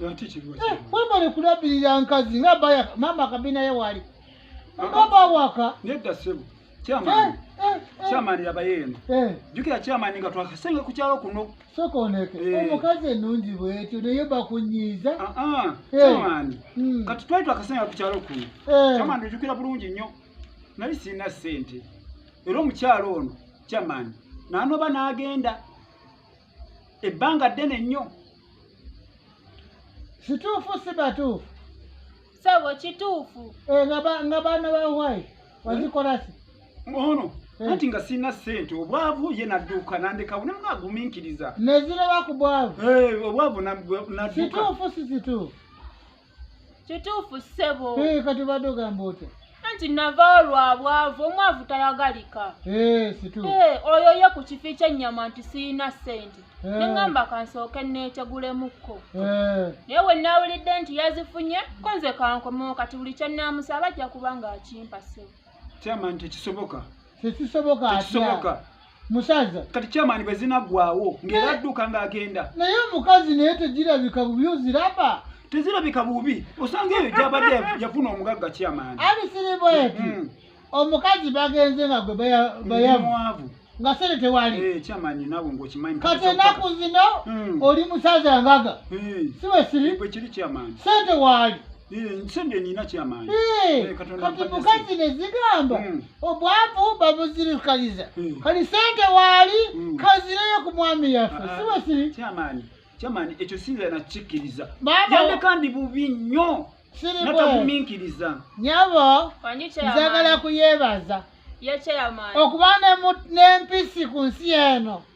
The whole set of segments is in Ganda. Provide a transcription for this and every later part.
Eh, webale kulabirira nkazi nga baya mama kabina ye wali baba waka nedda sebo kyamani eh, eh, kyamani labaye eno jukira kyamani nga twakasenga ku kyalo kuno sokoneke omukazi enungi bwetyo naye bakunyiiza ah, ah, kyamani hmm. kati twali twakasenga ku kyalo kuno kyamani ojukira bulungi nnyo nali sirina sente era omukyalo ono kyamani nanoba n'agenda ebbanga ddene nnyo kituufu si batuufu sebo kituufu eh, nga baana ba wai wazikolasi ono eh. anti nga sirina sente obwavu ye nadduuka nandekawo ne mwagumiikiriza neziraba ku bwavu eh, obwavu nadduka kituufu si kituufu kituufu ssebo eh, kati obadde ogamba otya anti navaawo lwa bwavu omwavu tayagalika eh, eh, oyo ye ku kifi kyennyama nti sirina ssente neŋamba kansooke neetegulemukko naye we naawulidde nti yazifunye ko nze kankomewo kati buli kye naamusaba ajja kuba ng'akimpa ssebo kyamanti tekisoboka tekisoboka tekisoboka musaza kati kyamaani bwe zinaggwawo ng'era adduka ng'agenda naye omukazi naye tegirabika bubi oziraba tezirabika bubi osanga eyo gyabadde yafuna omugagga kyamaani ali siribweti mm. omukazi bagenze nga gwe bayamwavu nga sente tewali eh, kati enaku zino mm. oli musaza ngaga eh. siwesiri sente waali eh, kati mukazi nezigamba mm. obwavu babuzirikaliza hmm. kali sente waali hmm. kazireyo ku mwami yaffe ah, ah. siwe siri kyamaani ekyo sinza nakikkiriza yandeka ndi bubi nnyo nataguminkiriza nyabo nzagala kuyebaza okuba nempisi ku nsi eno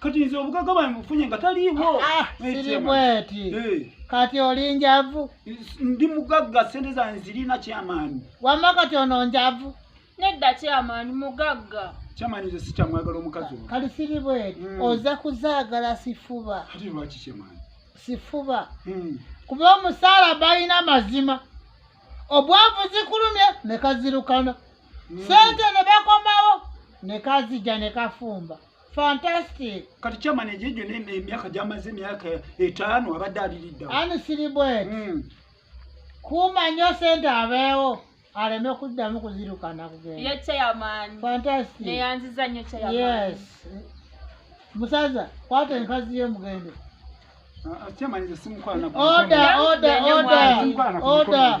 kati nze obugaga bwange bufunye nga taliiwo ah, sirimweti eh. kati oli njavu ndi mugagga sente zange zirina kyamaani wamma kati ono njavu nedda kyamaani mugagga kyamaani nze sikyamwagala omukazi o kati sirimweti hmm. oza kuzaagala sifuba kati lwaki kyamaani sifuba hmm. kuba omusaala balina mazima obwavu zikulumye nekazirukana hmm. sente nebakomawo nekazija nekafumba fantastic kati chairman egyo egyo ne- emyaka gyamaze emyaka etaano abadde aliriddawo ani siri bweti Mm. kuuma nnyo sente abeewo aleme kuddamu kuzirukana kugenda ye chairman fantastic neyanziza nnyo chairman yes musaza kwata enkazi ye mugende Ah, ah, chairman nze simukwana order order Bene order mwanyi. order